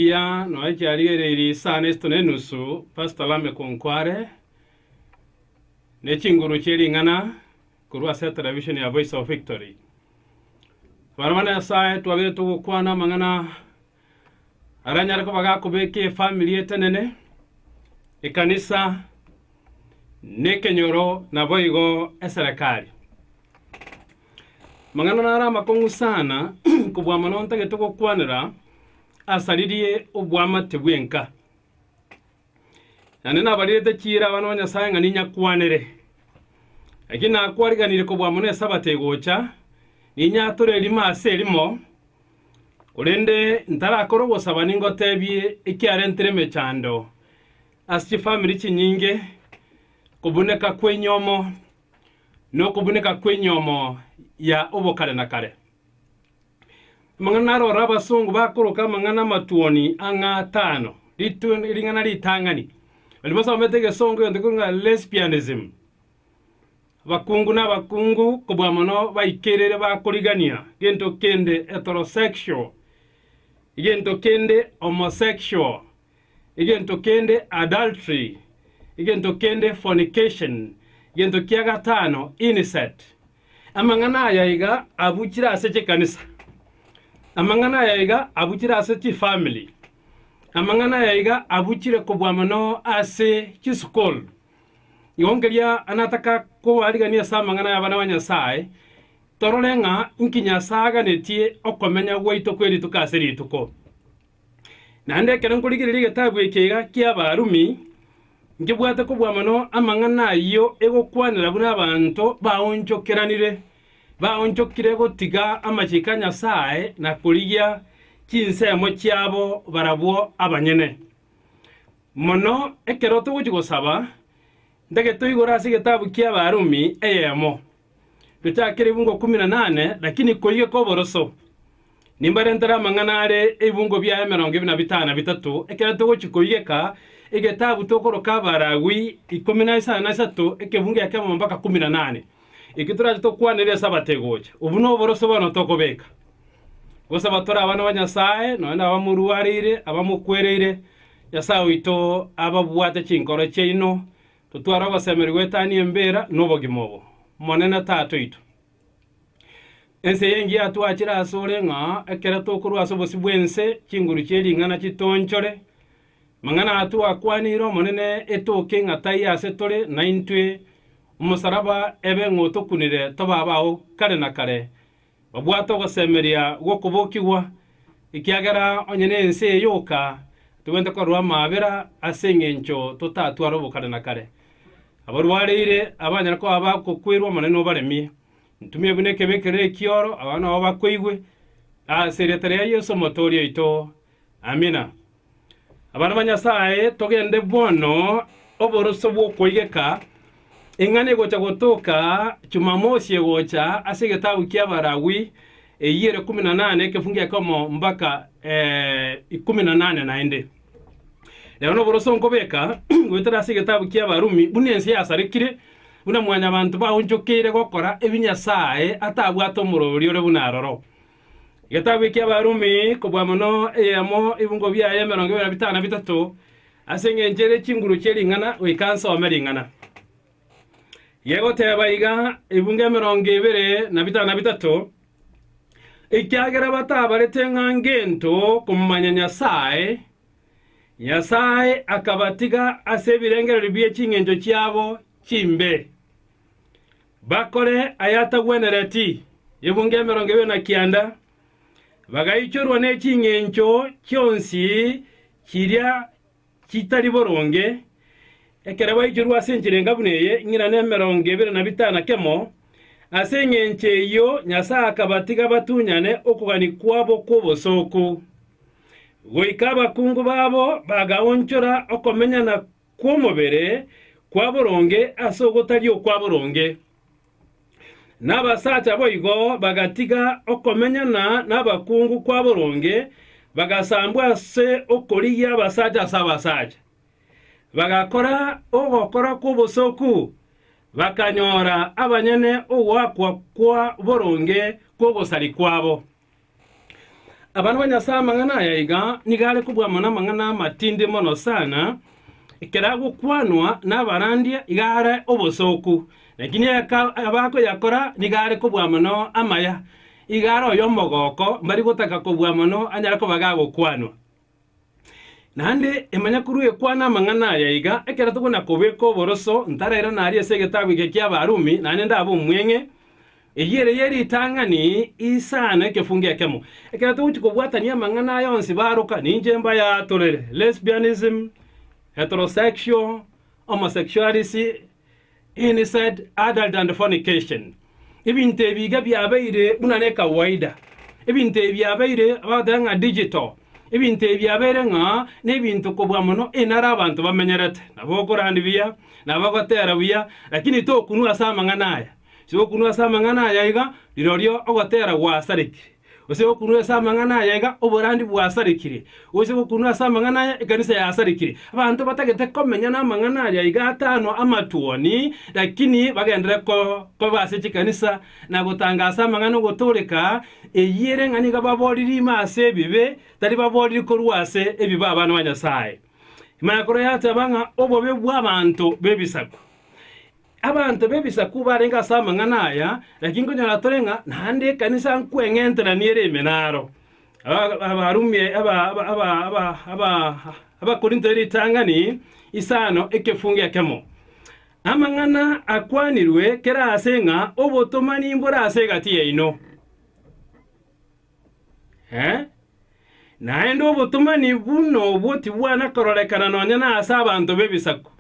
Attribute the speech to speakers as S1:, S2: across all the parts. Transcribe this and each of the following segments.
S1: Ekiya nonya chiarigereirie isano isatu na enusu Pastor Lameck Nkware ne chinguru chie ring'ana korwa ase etelevisheni ya Voice of Victory. Abana ba Nyasae twabegetwe gokwana amang'ana aranyare koba gakobeka efamiri etenene, ekanisa, na ekenyoro naboigo eserekari. Amang'ana naro amakong'u sana kobua mono ntagetwe gokwanera asaririe obwamate bwenka. Naende nabarirete chiira abana ba Nyasae ng'a ninyakwanere. Lakini nakwariganire kobua mono Esabato egocha, ninyature erimo ase erimo, korende ntarakore ogosaba ningoteebie ekiarentire emechando ase chifamiri chinyinge, okobuneka kw'enyomo, na okobuneka kw'enyomo ya obokare na kare. Amang'ana narora abasongo bakoroka amang'ana amatuoni ang'a atano. Ritu- Ring'ana ritang'ani. Baria basomete egesongo egento ekero ng'a lesbianism. Abakungu na abakungu kobua mono baikerere bakorigania gento kende heterosexual, egento kende homosexual, egento kende adultery, egento kende fornication, egento kia gatano incest. Amang'ana aya iga abuchire ase chikanisa. Amang'ana aya iga abuchire ase chifamili. Amang'ana aya iga abuchire kobua mono ase chisukuru. Igo nkeria nataka kobarigania ase amang'ana y'abana ba Nyasae, torore ng'a inki Nyasae aganetie okomenya gwaito kw'erituko ase rituko. Naende ekero nkorigereria egetabu eke iga ki'Abarumi, nkebwate kobua mono amang'ana ayio egokwanera buna abanto baonchokeranire, baonchokire gotiga amachiko a Nyasae na korigia chinsemo chiabo barabwo abanyene. Mono ekero togochia gosaba, ntagete oigore ase egetabu ki'Abarumi eyemo. Gochakera ebungo ikomi na nane, lakini koige koboroso, nimbarentere amang'ana are ebungo biaye emerongo ebere na bitano na bitato, ekero togochia koigeka egetabu tokoroka Abaragui ikomi na isano na isato, ekebungo gia kemo mpaka ikomi na nane, ekio torache tokwanere Esabato egocha. Obwo noboroso bono tokobeka, gosaba tore abana ba Nyasae, nonya nabamorwareire, abamokwereire, Nyasae oito ababwate chinkoro chiaino Totware ogosemeria goetania embeera nobogima obo, Monene Tata oito. Ense y'engiya yatwachire asore ng'a ekero tokorua ase obosio bw'ense chinguru chie ring'ana chitoonchore. Mang'ana aya twakwaneire Omonene etoke ng'a taiyo ase tore naintwe, omosaraba ebe ng'otokunire tobe abao kare na kare, Babwate ogosemeria gw'okobokigwa, ekiagera onye nense eye yoka tobwenerete korerwa amaabera ase engencho totatware obokare na kare. Abarwareire abanyare koba bagokwerwa Omonene obaremie. Ntumia buna ekebe keria ekioro, abanto nabo bakoigwe, ase erieta ria Yeso Omotooria oito. Amina. Abana ba Nyasae, togende bono oboroso bw'okoigeka eng'ana egocha gotoka Jumamosi egocha ase egetabu kia Abalawi, eyio ere kumi na nane, ekefungu gia ikomo mbaka eh, ikomi na nane naende. Rero noboroso nkobeka goetera ase egetabu kia Abarumi, buna ense yasarekire, buna mwanyabanto baonchokeire gokora ebi Nyasae atabwate omorori ore buna aroro. Getabu eki'Abarumi, kobua mono eyemo ebungo biaye emerongo ebere na bitano na bitato, ase engencho ere chinguru chie ring'ana, goika nsome ring'ana. Yegoteba iga, ebungo emerongo ebere na bitano na bitato, Ekiagera batabarete ng'a ngento komanya Nyasae, Nyasae akabatiga ase ebirengererio bie chingencho chiabo chimbe. Bakore ayatagwenereti ebunga emerongo ebere na kianda, bagaichorwa ne ching'encho chionsi chiria chitari boronge, ekero baichorwa ase enchera enga buna eye, ng'ina nemerongo ebere na bitano na kemo. Ase engencho eyio Nyasae akabatiga batunyane okogani kwabo kw'obosooku, goika abakungu babo bagaonchora okomenyana kw'omobere kwa boronge ase ogotari okwa boronge. Nabasacha boigo bagatiga okomenyana nabakungu kwa boronge, bagasambwa ase okorigia abasacha ase abasacha. Bagakora ogokora kw'obosoku, bakanyora abanyene ogoakwa kwa boronge kw'ogosari kwabo. Abana ba Nyasae amang'ana aya iga nigo are kobua amo namang'ana amatindi mono sana, ekero agokwanwa nabarandia iga are obosooku, lakini ekero abakoyakora nigo are kobua mono amaya, iga are oyomogooko, mbari gotaka kobua mono anyare koba gagokwanwa. Naende imanya korwa ekwana amang'ana aya iga, ekero tokona-kobeka oboroso, ntarairane aria ase egetabu eke ki'Abarumi, naende ndabe omweng'e. Eyio ere ye ritang'ani isano ekefungo ekemo. Ekero togochia kobwatania amang'ana aya onsi baroka, ninche mbayaatorere, lesbianism, heterosexual, homosexuality, Incest, adultery and fornication. Ebinto ebi iga biabeire buna ne kawaida. Ebinto ebi biabeire bagoteba ng'a digital. Ebinto ebi biabeire ng'a nebinto kobua mono inare abanto bamenyerete. Nabo okorandi buya, nabo ogotera buya, lakini tokunwa ase amang'ana aya. Ase okunwa ase amang'ana aya iga, rirorio ogotera gwasarekire. Gose gokunwa ase amang'ana aya iga oborandia bwasarekire, gose gokunwa ase amang'ana aya ekanisa yasarekire. Abanto batagete komenya namang'ana aria iga atano amatuoni, lakini bagenderere ko- koba ase chikanisa na gotanga ase amang'ana ogotooreka, eyire ng'a nigo babooriri ime ase ebibe, tari babooriri korwa ase ebibe abana ba Nyasaye. Imana ekoroe yateba ng'a obobe bw'abanto b'ebisaku. Abanto b'Ebisaku barenge ase amang'ana aya, lakini nkonyora tore ng'a naende ekanisa nkweng'enteranie ere ime naro. Aba- Abarumi, aba- aba- aba- aba- aba- Abakorinto eritang'ani isano ekefungo ekemo. Amang'ana akwanirwe kera aase ng'a obotomani mbore ase egati yaino. Eh? Naende obotomani buna obwo tibwana kororekana nonya nase abanto b'Ebisaku.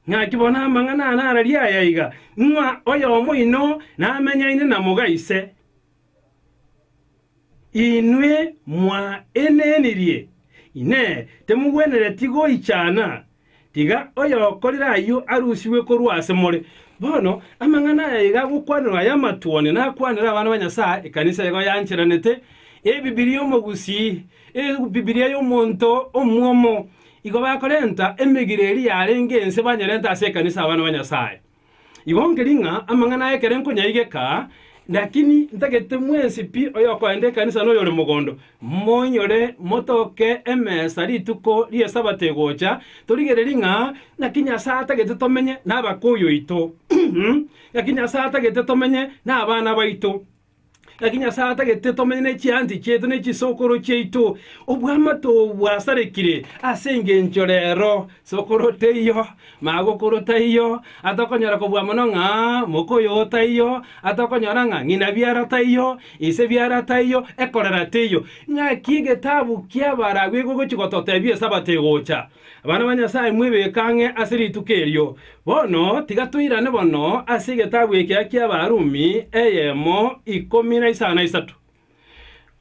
S1: Naki bono amang'ana aane araria aya iga, ng'a oyomo oino namenyaine na moga ise, inwe mwaenenirie, Inee, timogwenereti goichana? Tiga oyokorire ayio arusigwe korwa ase more. Bono amang'ana aya iga agokwanerwa aya amatwoni nakwanere abana ba Nyasae, ekanisa igo yancheranete, Ebibilia omogusii, Ebibilia y'omonto omwomo, Igo bakorenta emegiro eria yarenge ense banyerente ase ekanisa abana ba Nyasae. Igo nkeria ng'a amang'ana aya ekero nkonyaigeka, lakini ntagete mwensi pi oyokoenda ekanisa na oyore mogondo, moinyore motoke emesa rituko ri'Esabato egocha, torigererie ng'a ng'aki Nyasae atagete tomenye nabakuyu oito, ng'aki Nyasae atagete tomenye nabana baito. Naki Nyasae atagete tomenye ne chiansi chiaito ne chisokoro chiaito, obw'amato obwo bwasarekire ase engencho rero. Sokoro teiyo, magokoro taiyo, atokonyora kobua mono ng'a mokoyo oo taiyo, atokonyora ng'a ng'ina biara taiyo, ise biara taiyo, ekorera teiyo. Ng'aki egetabu ki'abaragwekwa egochi gototebia Esabato egocha. Abana ba Nyasae, mwebeke ang'e ase rituko erio. Bono tiga toirane bono ase egetabu ekia ki'Abarumi eyemo ikomi na isano na isato.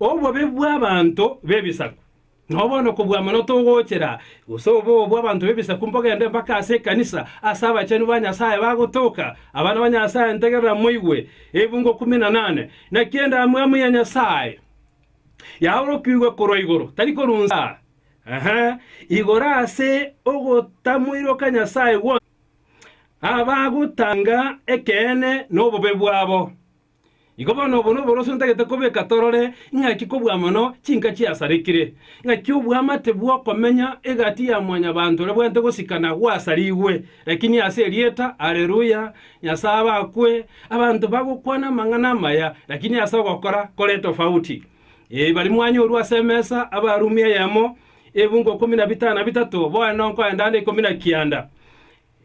S1: Obobe bw'abanto b'ebisaku. Nao bono kobua mono togochera, gose oboo bw'abanto b'ebisaku mbogende mpaka ase ekanisa, ase abachenu ba Nyasae bagotoka. Abana ba Nyasae, ntegerera moigwe ebungo ikomi na nane. Naki endamwamu ya Nyasae yaorokigwe korwa igoro, tari korwa inse aa. Aha igoro ase ogotamoiroka Nyasae gwonsi, abagotanga ekeene nobobe bwabo. Igo bono obo noboroso ntagete kobeka torore ing'aki kobua mono chinka chiasarekire, ng'aki oboamate bw'okomenya egati ya mwanyabanto orebwenerete gosika na gwasarigwe, lakini ase erieta, Aleluya, Nyasae abakwe, abanto bagokwana amang'ana amaya, lakini ase ogokora kore tofauti. Ee, baria mwanyorwa ase emesa abarumi eyemo ebingo ikomi na bitano na bitato, bono nonkoenda ande ikomi na kianda.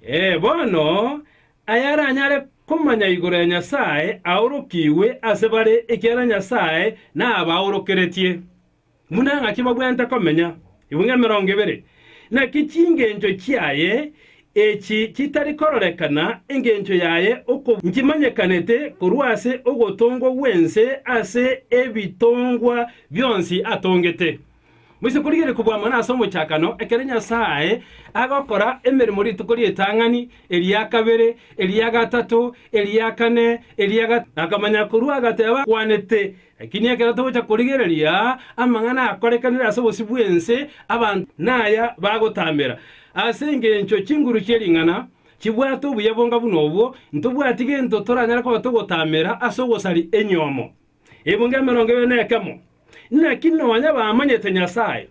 S1: Ee, bono, ayaranyare komanya igoro ya Nyasae aorokigwe ase bare, ekiagera Nyasae nabaorokeretie. Buna ng'aki babwenerete komenya, ibinga emerongo ebere, naki chingencho chiaye, Echi chitari kororekana engencho yaye oko nchimanyekanete korwa ase ogotongwa gw'ense ase ebitongwa bionsi atongete. Moise korigereria kobua amang'ana ase omochakano, ekero Nyasae agokora emeremo rituko ri'etang'ani, eria kabere, eria gatato, eria kane, eria gatano, akamanya korwa agateba, Kwanete. Ekiagera ekero togocha korigereria amang'ana akorekanire ase obosio bw'ense, abanto naya bagotambera. Ase engencho chinguru chie ring'ana chibwate obuya bonga buna obwo, ntobwati gento toranyare koba togotambera ase ogosari enyomo. Ebunga emerongo ebere nekemo. Naki nonya bamanyete Nyasae,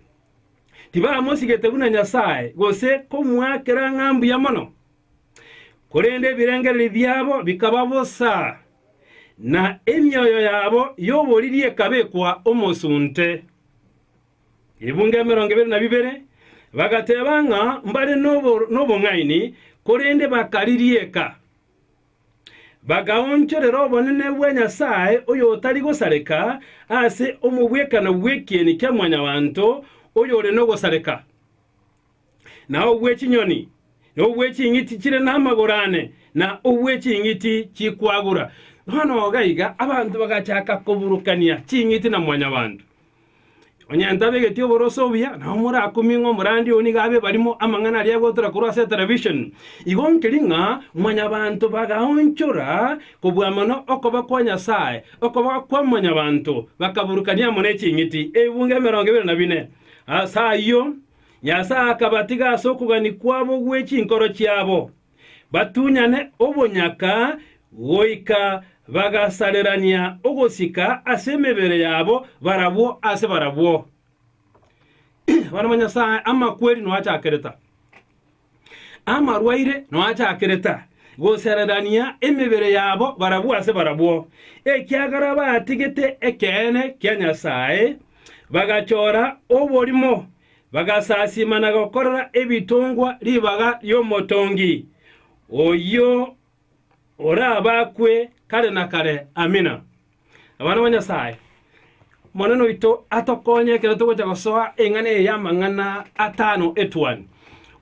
S1: tibamosigete buna Nyasae gose komoakera ng'a mbuya mono, korende ebirengererio biabo bikaba bosa. na emioyo yabo y'oboriri ekabekwa omosunte. Ebunga emerongo ebere na bibere bagateeba ng'a mbare nobo- nobong'aini, korende bakaririeka. Bakaonchorera obonene bwa Nyasae oyotari gosareka ase omobwekano bw'ekieni kia Mwanyabaanto oyore nogosareka. na ogwe chinyoni, na ogwe ching'iti chire namagoro ane, na ogwe ching'iti chikwagura. Bono oga iga abanto bagachaka koburukania ching'iti na mwanyabanto. Onye ntabegeti oborose obuya, nao morakumie ng'a omorandi oo nigo abe ebarimo amang'ana aria agotora korwa ase etelevision. Igo nkeri ng'a mwanyabanto bagaonchora kobua mono okoba kwa Nyasae, okoba kwa mwanyabanto, bakaburukania amo ne ching'iti, ebungo emerongo ebere na bine. Ase ayio Nyasae akabatiga ase okogania kwabo gwe chinkoro chiabo, batunyane obonyaka goika bagasarerania ogosika ase emebere yabo barabwo ase barabwo. Abana ba Nyasae, amakwerino achakereta. Amarwaire noachakire ta gosererania emebere yabo barabwo ase barabwo, ekiagera batigete ekeene kia Nyasae, bagachora oborimo, bagasasima na gokorera ebitongwa ribaga ri'Omotongi, oyio orabakwe kare na kare. Amina. Abana ba Nyasae, Omonene oito atokonye ekero togocha gosoa eng'ana eye y'amang'ana atano etuoni.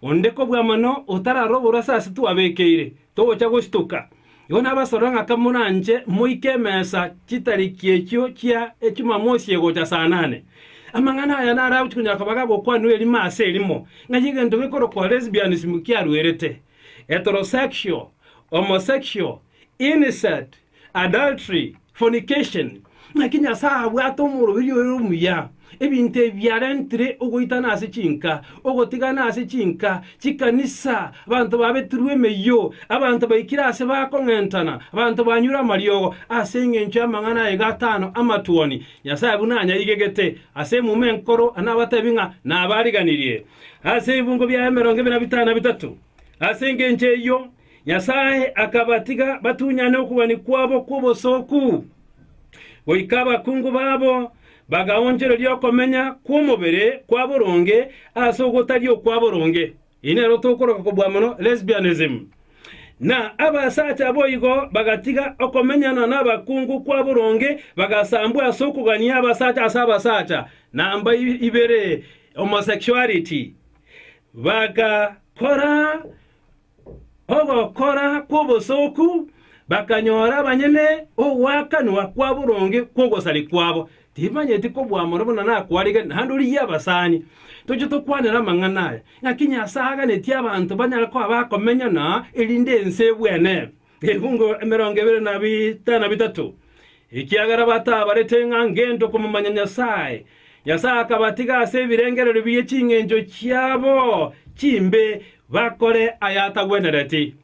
S1: Onde kobua mono otararoborwa ase ase twabekeire, togocha gosituka. Igo nabasorore ng'aka moranche moike emesa chitariki echio chia Echumamosi egocha saa nane. Amang'ana aya naro agochia konyara koba gagokwanwa erimo ase erimo, ng'ai egento gekorokwa lesbianism kiaruerete, heterosexual, homosexual, incest, adultery, fornication, naki Nyasae abwate omoroberi oye omuya, ebinto ebi biarentire ogoitana ase chinka, ogotigana ase chinka, chikanisa, abanto babetirwe emeyio, abanto baikire ase bakong'entana, abanto banyure amariogo ase engencho y'amang'ana aye gatano amatuoni. Nyasae buna anyaigegete ase emuma enkoro, anabatebi ng'a nabariganirie ase ebibungo biaye emerongo ebe na bitano na bitato. Ase engencho eyio, Nyasae akabatiga batunyane okobani kwabo kw'obosooku, goika abakungu babo bagaonchoreria okomenya kw'omobere kwa boronge ase ogotari okwa boronge, eyi nero tokoroka kobua mono lesbianism, na abasacha boigo bagatiga okomenyana nabakungu kwa boronge bagasambwa ase okogania abasacha ase abasacha, namba ibere, homosexuality, bagakora ogokora kw'obosooku, bakanyora banyene ogwakanwa kwa boronge kw'ogosari kwabo. Tibamanyeti kobwamora buna nakwarigete, naende ori y'abasani. Toche tokwanere amang'ana aya, ng'aki Nyasae aganetie abanto banyare koba bakomenya na erinde ense ebwenerwe. Ebiungo emerongo ebere na bitano na bitato, ekiagera bataabarete ng'a ngento komomanya Nyasae. Nyasae akabatiga ase ebirengererio bie chingencho chiabo chimbe bakore ayatagwenereti.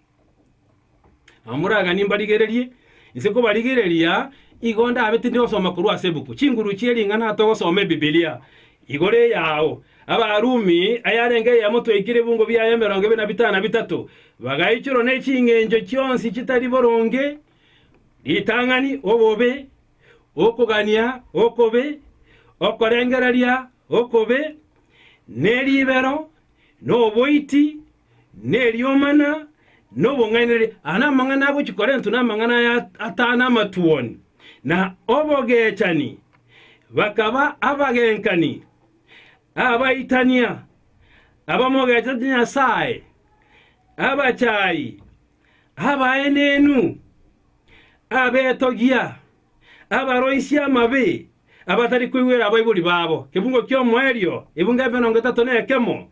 S1: Namoragani mbarigererie, inse kobarigereria, igo ndabetire osoma korwa ase ebuku Chinguru chie Ring'ana togosoma Ebibilia. Igoro eyao Abarumi, ayarenge eyemo twaikire ebungo biaye emerongo ebere na bitano na bitato, bagaichorwa ne ching'encho chionsi chitari boronge, ritang'ani, obobe, okogania okobe, okorengereria okobe, ne ribero, noboiti, neriomana, na obong'ainereria. Aya namang'ana agochia korentwa namang'ana aya atano amatuoni, na obogechani, bakaba abagenkani, abaitania, abamogechete Nyasae, abachaayi, abaenenu, abetogia, abaroisia amabe, abatari kweigwera abaibori babo, ebugo ki'omoerio, ebugo emerongo etato nekemo,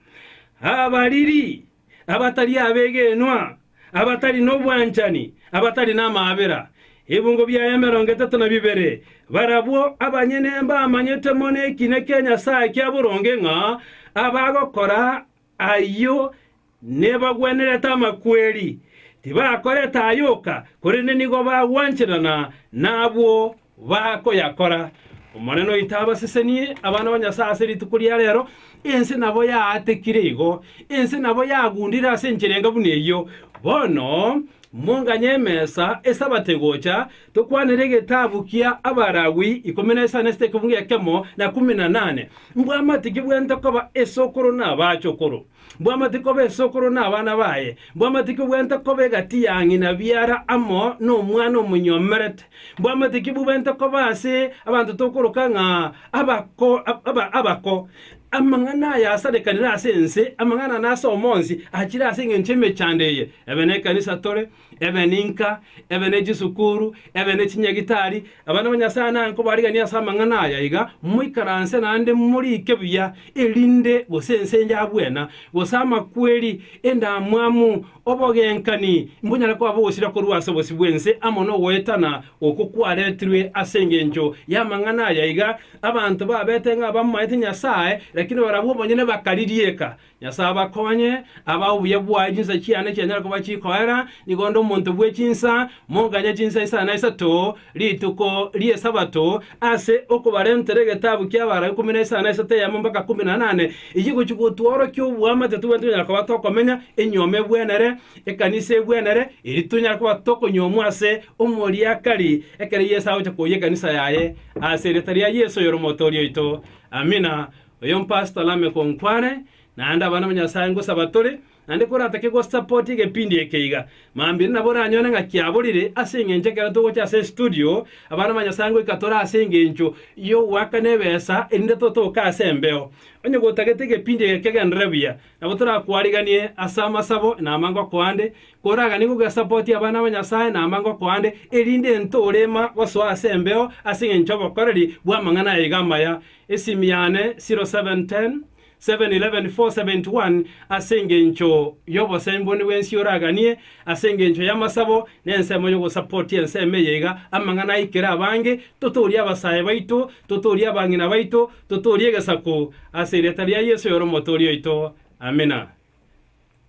S1: abariri, abatari abegenwa, abatari nobwanchani, abatari namaabera, ebugo bia emerongo etato na bibere, barabwo abanyene mbamanyete mono ekina kia Nyasae kia boronge ng'a abagokora Ayio nebagwenerete amakweri, tibakorete ayoka, korende nigo bagwancherana nabwo bakoyakora. Omonene oito abasesenie abana ba Nyasae ase rituko ria rero. Ense nabo yaatekire igo, ense nabo yagundire ase enchera enga buna eyio. Bono monganye emesa Esabato egocha, Tokwanere egetabu kia Abalawi ikomi na isano esete ekefungu ekemo na kumi na nane, Mbwamate ki bwente koba esokoro na abachokoro? Mbwamate koba esokoro na abana baye? Mbwamate ki bwente koba egati ya ng'ina biara amo nomwana omonyomerete? Mbwamate ki bwente koba ase abanto tokoroka ng'a abako, aba, abako? Amang'ana aya asarekanire ase ense, amang'ana ana ase omonsi achire ase engencho y'emechando eye. Ebe nekanisa tore, ebe ninka, ebe ne chisukuru, ebe ne chinyagitari, abana ba Nyasae nankobariganie ase amang'ana aya iga, moikaranse naende morike buya, erinde gose ense yabwena, gose amakweri, endamwamu, obogenkani, mbonyare koba bogosira korwa ase obosio bw'ense amo nogoetana oko kwaretirwe ase engencho y'amang'ana aya iga, abanto babete ng'a bamaete Nyasae, lakini barabwo bonyene bakarigieka, Nyasae abakonye, abae obuya bwaye chinsa chiane chianyare koba chikoera, nigo onde omonto bwe chinsa, monganye chinsa isano na isato rituko ri'Esabato, ase okobarentera egetabu ki'abarabi ikomi na isano na isato eyemo mpaka ikomi na inane, eyio gochia gotworokia oboamate tobwenerete konyara koba tokomenya, enyuoma ebwenere, ekanisa ebwenere, erio tonyare koba tokonyuomwa ase Omoriakari, ekero Yeso agocha koyia ekanisa yaye, ase erieta ria Yeso oyore Omotoori oito. Amina. Oyo mpastor name konkwane, naende abana ba Nyasae ngosaba tore, naende koratake go support egepindi eke iga, mambire nabo oranyore ng'a kiaborire, ase engencho ekero togocha ase estudio, abana ba Nyasae ngoika tore ase engencho yogoakana ebesa, erinde totoke ase embeo. Onye gotagete egepindi eke kegenderere buya, nabo torakwariganie ase amasabo na amba ngoko ande, koraganie goge support abana ba Nyasae na amba ngoko ande, erinde ntorema gosoa ase embeo ase engencho y'obokoreri bw'amang'ana aya iga amaya, Esimi yane 0710 711 471 Ase engencho y'obosemboni bw'ensi oraganie, ase engencho y'amasabo na ensemo y'ogosapotia ensemo eye iga, amang'ana aikire abange, Totoorie abasae baito, totoorie abang'ina baito, totoorie egesaku, ase erieta ria Yeso oyore Omotooria oito. Amina.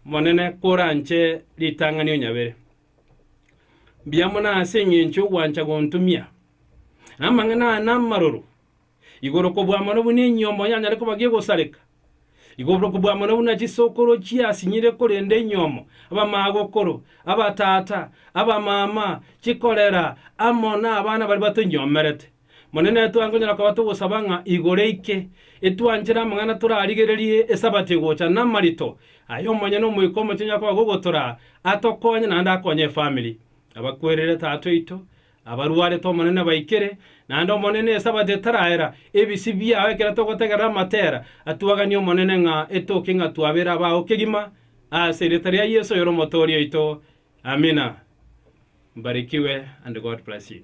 S1: Monene, koranche ritang'ani onyabere. Mbuya mono ase engencho y'ogwancha gontumia, na amang'ana aa namaroro. Igoro kobua mono buna enyomo yanyare koba gegosareka, igoro kobua mono buna chisokoro chiasinyire korende enyomo, abamagokoro, abatata, abamama, chikorera, amo nabana baria batonyomerete. Monene, twakonyara koba togosaba ng'a igoro aike, etwanchere amang'ana torarigererie Esabato egocha, namarito aye omonyene Omoika Omochenu yakoba gogotoraa, atokonye naende akonye efamili. Abakwerire Tata oito, Abarwarete Omonene baikire, naende Omonene Esabato etaraera, ebisi biao ekero togotegerera amatera, atwaganie Omonene ng'a etoke ng'a twabere abao kegima, ase erieta ria Yeso oyore Omotoori oito. Amina. Mbarikiwe and God bless you.